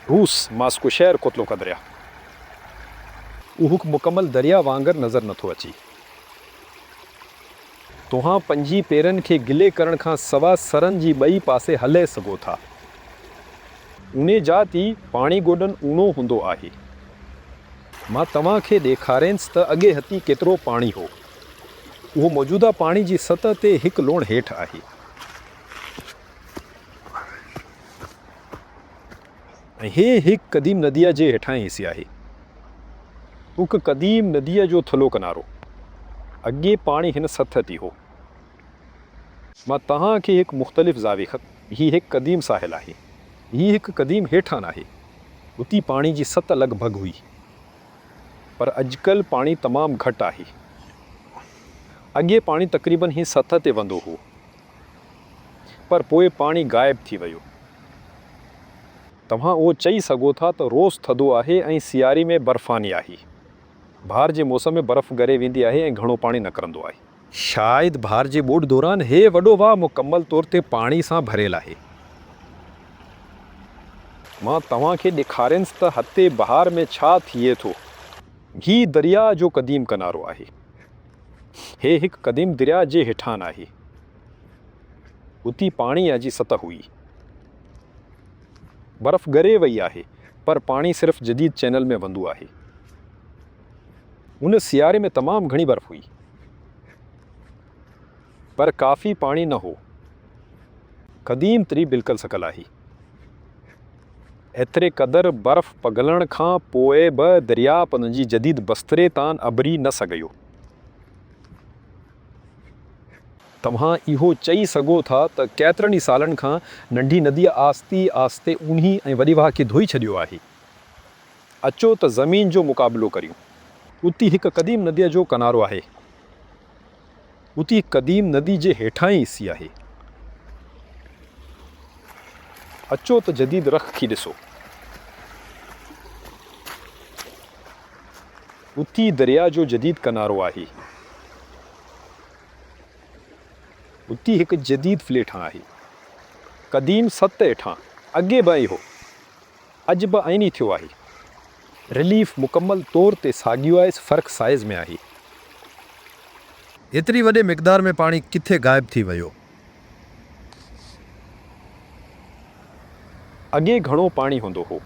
روس، ماسڪو شهر ڪوتلو ڪا دريا. اهو هڪ مڪمل دريا وانگر نظر نٿو اچي. توهان پنهنجي پيرن کي گلي ڪرڻ کان سوا سرن جي ٻئي پاسي هلئي سگهو ٿا. اوني جا تي پاڻي گوڏن اونو هوندو آهي. مان توهان کي ڏيکارينس ته اڳي هتي ڪيترو پاڻي هو. اهو موجوده پاڻي جي سطح تي هڪ لوڻ هيٺ آهي. هي هڪ قديم نديء جي هيٺاهين حصي آهي. هڪ قديم نديء جو ٿلهو ڪنارو. اڳي پاڻي هن سطح تي هو. مان توهان کي هڪ مختلف زاويي خط هي هڪ قديم ساحل آهي. هي هڪ قديم هيٺاهن آهي. اتي پاڻي جي سطح لڳ ڀڳ هئي. پر اڄڪلهه پاڻي تمام گهٽ آهي. اڳي پاڻي تقريبن هي سطح تي وندو هو. پر پوء پاڻي غائب ٿي ويو. توهان اهو چئي سگهو ٿا ته روس ٿڌو آهي ۽ سياري ۾ برفاني آهي. بهار جي موسم ۾ برف ڳري ويندي آهي ۽ گهڻو پاڻي نڪرندو آهي. شايد بهار جي ٻوڏ دوران هي وڏو واهه مڪمل طور تي پاڻي سان ڀريل آهي. مان توهان کي ڏيکارينس ته هتي بهار ۾ ڇا ٿئي ٿو. هي درياء جو قديم ڪنارو آهي. هي هڪ قديم درياء جي هيٺان آهي. اتي پاڻيء جي سطح هئي. برف ڳري وئي آهي، پر پاڻي صرف جديد چينل ۾ وهندو آهي. ان سياري ۾ تمام گهڻي برف هئي. پر ڪافي پاڻي نه هو. قديم تري بلڪل سڪل آهي. ايتري قدر برف پگهلڻ کان پوء به درياء پنهنجي جديد بستري تان اڀري نه سگهيو. توهان اهو چئي سگهو ٿا ته ڪيترن ئي سالن کان ننڍي نديء آهستي آهستي اونهي ۽ وڏي واهه کي ڌوئي ڇڏيو آهي. اچو ته زمين جو مقابلو ڪريون. اتي هڪ قديم نديء جو ڪنارو آهي. اتي هڪ قديم ندي جي هيٺان ئي حصي آهي. اچو ته جديد رخ ٿي ڏسو. اتي درياء جو جديد ڪنارو آهي. اتي هڪ جديد فليٽ هان آهي. قديم سٽ هيٺان اڳي به ائين هو. اڄ به ائين ئي ٿيو آهي. رليف مڪمل طور تي ساڳيو آهي فرق سائيز ۾ آهي. ايتري وڏي مقدار ۾ پاڻي ڪٿي غائب ٿي ويو. اڳي گهڻو پاڻي هوندو هو.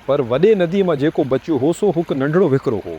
پر وڏي ندي مان جيڪو بچيو هو سو هڪ ننڍڙو وهڪرو هو.